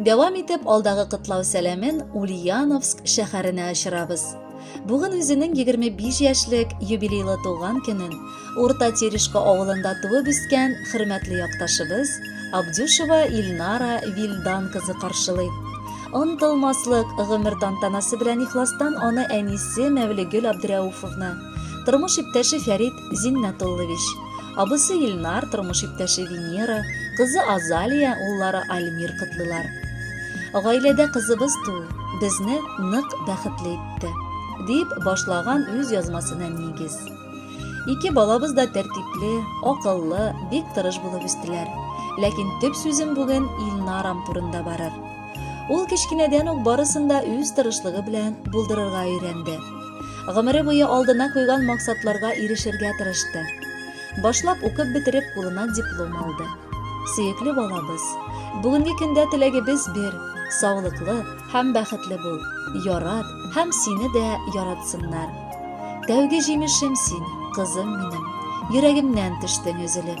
Дәвам итеп алдагы кытлау сәламен Ульяновск шәһәренә очырабыз. Бүген үзенең 25 яшьлек юбилейлы туган көнен Урта Терешка авылында туып үскән хөрмәтле якташыбыз Абдюшева Ильнара Вильдан кызы каршылый. Онтылмаслык гомер тантанасы белән ихластан аны әнисе Мәвлегөл Абдрәуфовны, тормыш иптәше Фәрит Зиннәтуллович, абысы Илнар, тормыш иптәше Венера, кызы Азалия, уллары Альмир котлыйлар. Гаиләдә кызыбыз туу безне нык бәхетле итте, дип башлаган үз язмасына нигез. Ике балабыз да тәртипле, акыллы, бик тырыш булып үстеләр. Ләкин төп сүзем бүген Илнарам турында барыр. Ул кечкенәдән үк барысын да үз тырышлыгы белән булдырырга өйрәнде. Гомере буе алдына куйган максатларга ирешергә тырышты. Башлап укып бетереп кулына диплом алды. Сөекле балабыз, бүгенге көндә теләгебез бер, саулыклы һәм бәхетле бул, ярат һәм сине дә яратсыннар. Тәүге җимешем син, кызым минем, йөрәгемнән төштең өзелеп.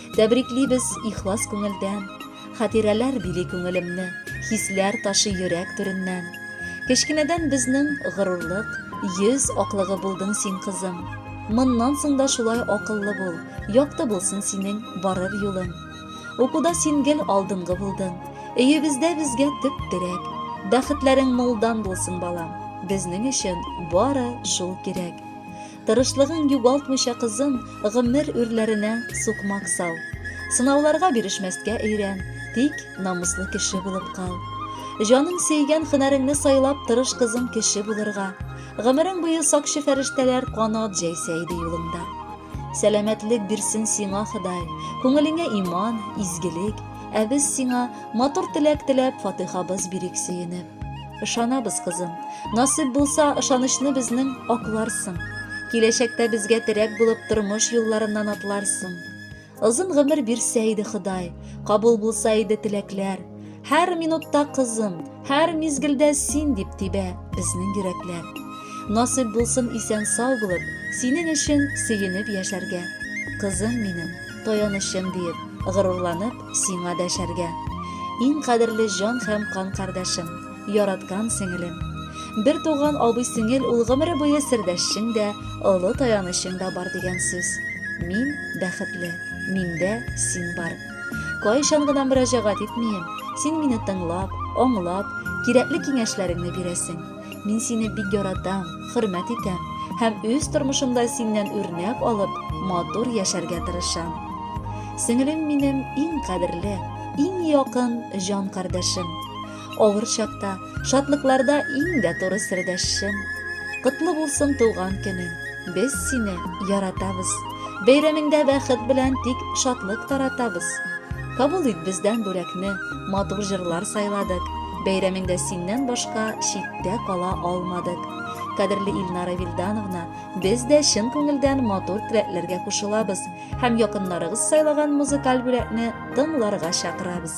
Тәбриклибез ихлас күңелдән, Хатирәләр били күңелемне, Хисләр ташый йөрәк түреннән. Кечкенәдән безнең горурлык, Йөз аклыгы булдың син, кызым. Моннан соң да шулай акыллы бул, Якты булсын синең барыр юлың. Укуда син гел алдынгы булдың, Өебездә безгә төп терәк. Бәхетләрең мулдан булсын, балам, Безнең өчен бары шул кирәк. Тырышлыгың югалтмыйча кызым, гомер үрләренә сукмак сал. Сынауларга бирешмәскә өйрән, тик намуслы кеше булып кал. Җаның сөйгән хөнәреңне сайлап тырыш кызым кеше булырга. Гомерең буе сакчы фәрештәләр канат җәйсә иде юлыңда. Сәламәтлек бирсен сиңа Ходай, күңелеңә иман, изгелек, ә без сиңа матур теләк теләп фатыйхабыз бирик сөенеп. Ышанабыз, кызым. Насыйп булса, ышанычны безнең акларсың. Киләчәктә безгә терәк булып тормыш юлларыннан атларсың. Озын гомер бирсә иде Ходай, кабул булса иде теләкләр. Һәр минутта кызым, һәр мизгелдә син дип тибә безнең йөрәкләр. Насыйп булсын исән сау булып, синең өчен сөенеп яшәргә. Кызым минем, таянычым диеп, горурланып, Сиңа дәшәргә. Иң кадерле җан һәм кан кардәшем, яраткан сеңелем. Бер туган абый сеңел ул гомере буе сердәшчең дә, олы таянычың да бар дигән сүз. Мин бәхетле, миндә син бар. Кайчан гына мөрәҗәгать итмием, син мине тыңлап, аңлап, кирәкле киңәшләреңне бирәсең. Мин сине бик яратам, хөрмәт итәм һәм үз тормышымда синнән үрнәк алып, матур яшәргә тырышам. Сеңелем минем иң кадерле, иң якын җан кардәшем. Авыр чакта, шатлыкларда иң дә туры сердәшем. Котлы булсын туган көнең. Без сине яратабыз. Бәйрәмеңдә бәхет белән тик шатлык таратабыз. Кабул ит бездән бүләкне, матур җырлар сайладык. Бәйрәмеңдә синнән башка читтә кала алмадык. Кадерле Илнара Вильдановна, без дә чын күңелдән матур теләкләргә кушылабыз һәм якыннарыгыз сайлаган музыкаль бүләкне тыңларга чакырабыз.